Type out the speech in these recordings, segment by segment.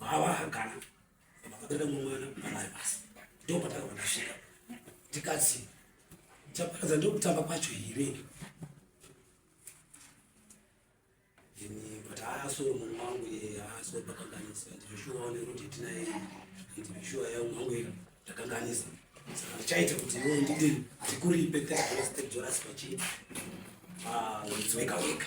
Baba kana vakatenda mwana baba basi. Ndio pataka vakashika. Tikatsi. Chapakaza ndio kutamba kwacho here? Ini but aso mwana wangu ye aso pakanganisa. Ndishuone kuti tinaye. Ndishuwa ya mwangu ye takanganisa. Saka chaita kuti iwe ndidini. Tikuripe tete zvacho. Ah, weka weka.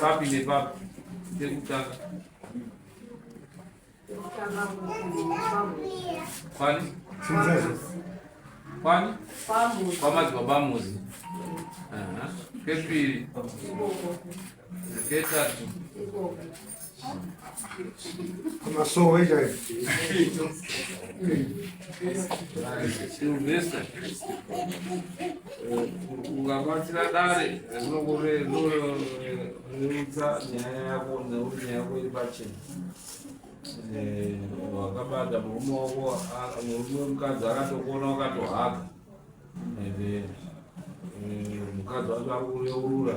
Papi ne papi. Sekutanga. Kwani? Kwani? Kwamazi babamuzi. Pepiri. Ketatu. Masowe chaiyo. Silvestre. Ungabatsira dare rinokure rinorerutsa nyaya yako nekuti nyaya yako iri pachena. Wakabata murume wako murume wemukadzi akatokuona wakatohaka. Mukadzi wacho ari kureurura.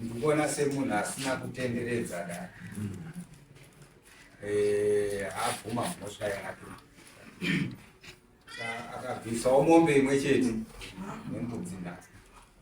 ndikuona semunhu asina kutenderedza da eh, abvuma mhosva yake akabvisawo mombe imwe chete nembudzi nhasi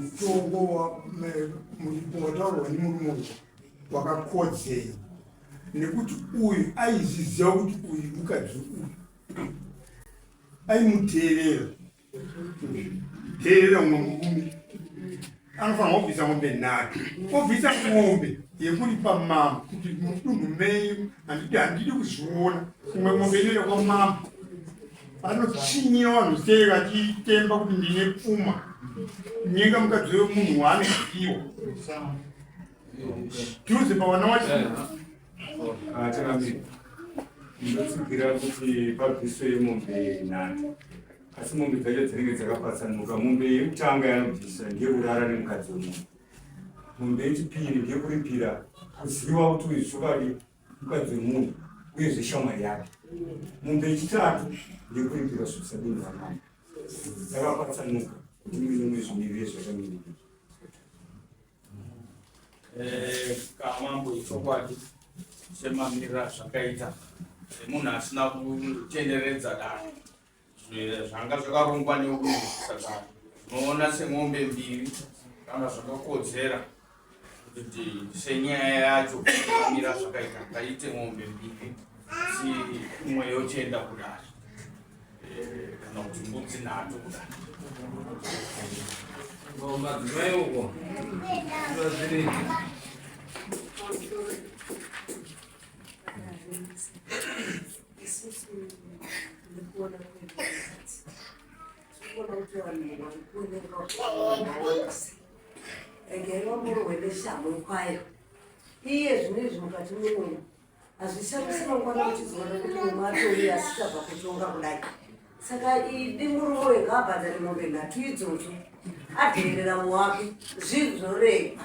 mutongo wataurwa nemurume uyu wakakodzei nekuti uyu aizviziva kuti uyu mukadzi uyu aimuteerera teerera umwe murume anofanira kubvisa mombe nhatu obvisa mombe yekuripa mambo kuti mudunhu menyu handidi kuzviona umwe mombe inoenda kwamambo Anotsvinyira vanhu sei vachitemba kuti ndine pfuma, kunyenga mukadzi wemunhu waane zvipiwa dhuze pavana wacho ndinotsigira kuti pabviswe mombe nhatu asi mombe dzacho dzinenge dzakapatsanuka mombe yekutanga yanobvisa ngekurara nemukadzi wemunhu mombe yechipiri ngekuripira kuziva kuti uyu zvokadi mukadzi wemunhu uyezve shamwari yake mumbe yechitatu ndekuripira zvisadini vamama takapatsanuka kuti muine mwe zvimirire zvakamiriri eh, kamambo ichokwadi semamirira zvakaita semunhu asina kutenderedza dano zvanga zvakarongwa neuyu saka unoona semombe mbiri kana zvakakodzera kuti senyaya yacho amira zvakaita ngaite mombe mbiri asi imwe yochenda kudari eh, kana kuti mbudzi nhatu kudari madzimai uko zvazviri isusu tiri kuona kuona kuti vanhu vari kuonekwa regai vamborwe neshamwe kwayo iye zvine izvi mukati memunhu hazvishamisi mangwana uchizoona kuti munhu atoi asichabva kutonga kudai saka idi murume uyo ngaabhadhare mombe nhatu idzodzo adheerera muwake zvinhu zvoregwa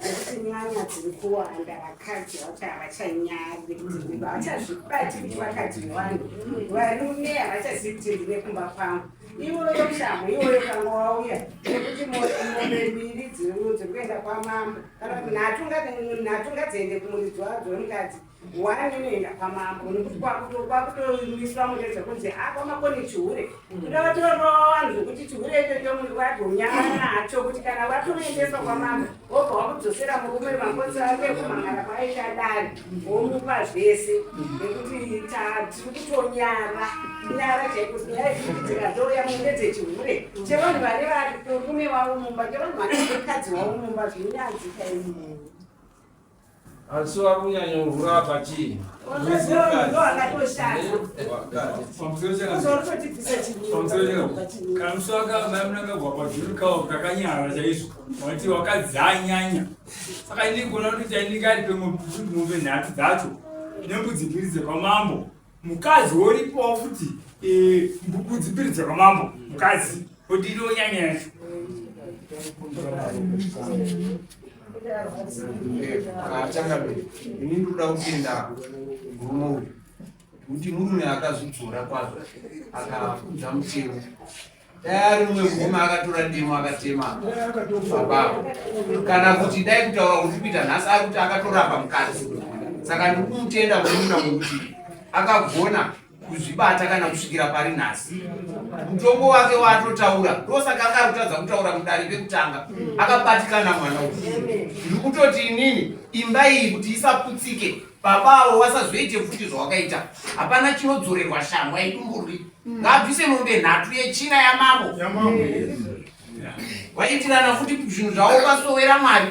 nekuti nyanya dziri kuwanda vakadzi vati havachanyari havachazvibati kuti vakadzi vevanhu varume havachazivi kuti ndine kumba kwangu iwoyo shamhu iwoyo kanga wauya nekuti mombe mbiri dziri kuenda kwamambo kana kuti nhatunga dziende kumuridzo wadzo wemukadzi Why unoenda kwamambo nekuti kwakutomiswa mureza kunzi a kwamako nechihure kuda vatorova vanhu zvekuti chihure ichocho munhu vagonyama nacho kuti kana vatoendeswa kwamambo wobva wakudzosera murume makosi ake kumangara kwaita dare womupa zvese nekuti tiri kutonyara nyara chaiko dzikadzouya mune dzechihure chevanhu vari vari murume wavo mumba chevanhu vari mukadzi wavo mumba zvinyadzika imumu Asi wari kunyanya kuvhura apa chii? Kamusi wakamunangagwa pazviri kawo kakanyara chaizvo wati wakadzanyanya saka ini gona kuti chainenge ari pemombe nhatu dzacho nembudzi mbiri dzekwamambo mukadzi woripawo futi eh, mbubudzi mbiri dzakamambo mukadzi odiriwo nyanya yacho ini ndoda kutenda murume uyu kuti murume akazvidzora kwazvo akafunza mutemo dai ari mumwe murume akatora demo akatema ababa kana kuti dai kutaura kuti kuita nhasi ari kuti akatorapa mukadzi saka ndiri kumutenda murume wekuti akagona kuzvibata kana kusvikira pari nhasi mutongo wake waatotaura ndosaka anga akutadza kutaura mudare pekutanga akabatikana mwana uyu ndiri kutoti inini imba iyi kuti isaputsike baba avo vasazoite futi zvawakaita hapana chinodzorerwa shamwa idumburwi ngabvise mombe nhatu yechina yamambo vaitirana futi zvinhu zvavo kwasowera mwari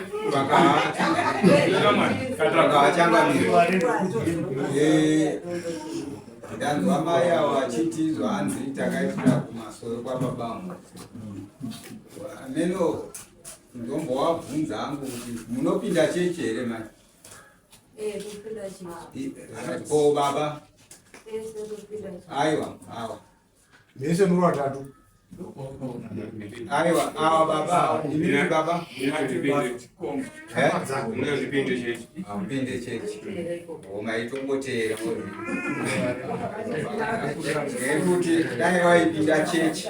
ndanzwa mai avo vachiti zvaanzi takaitira kumasoro kwababamo ameno ndombowabvunza angu kuti munopinda chechi here mai ko baba aiwa awa mese muri vatatu aiwa awa baba imii baba zvipinde chechi zvipinde chechi maitongoteera nekuti dai waipinda chechi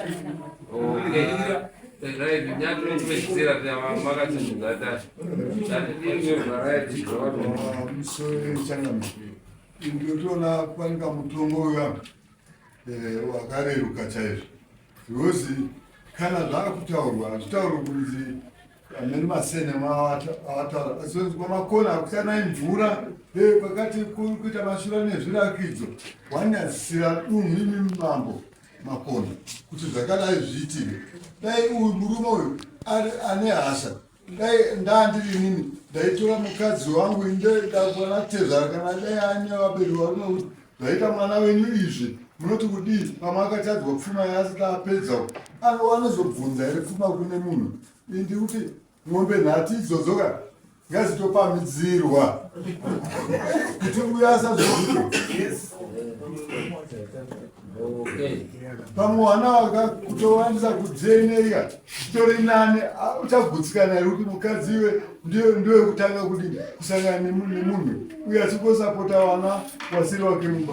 ndinotoona panika mutongo uya eh, wakareruka chaizvo because kana zvaakutaurwa hazvitaurwa kunzi amene masene maawataura asenzwa makona akusanai mvura eh, pakati kuita mashura nezvirakidzo wanyadzisira dunhu imi mambo makona kuti zvakadai zviitire dai uyu murume uyu ane hasha dai ndandirinini ndaitora mukadzi wangu indedaanatezvara kana dai anevaberi warume zvaita mwana wenyu izvi munoti kudii pamwe akatadzwa pfuma yaasika apedza anozobvunza here pfuma kune munhu ndikuti Mombe nhatu idzodzo ka ngazitopamidzirwa kuti uya asazozvito pamwe wana wakakutowandisa kudzieneria chitori nane uchagutsikana iri kuti mukadzi iwe ndiwe kutanga kuti kusangana nemunhu uye asingosapota wana wasiri wake mumba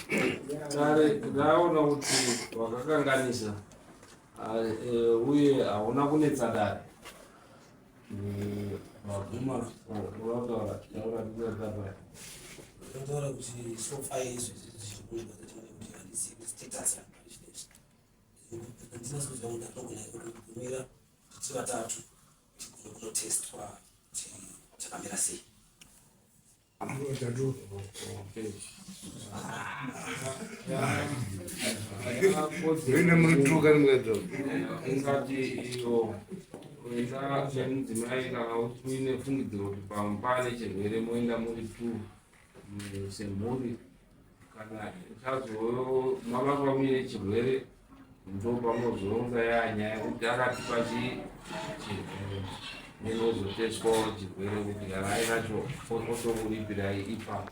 dare raona kuti wakakanganisa e, uye hauna kunetsa dare vaguma vataura kuti sofa izvi zvirikuita kuti handisi status yangu handina soziva kuti anogona kumira tiri vatatu kunotestwa kuti chakamira sei Vende murituka nimwedzo. Ingati iyo kuenda chemudzimai kana uine fungidziro kuti pamupane chirwere moenda muri two semhuri. kana uchazomava kwamire chirwere ndopamozonga yanyaya kuti akatipa chirwere nenozoteswawo chirwere kuti yarai racho otouripirai ipapo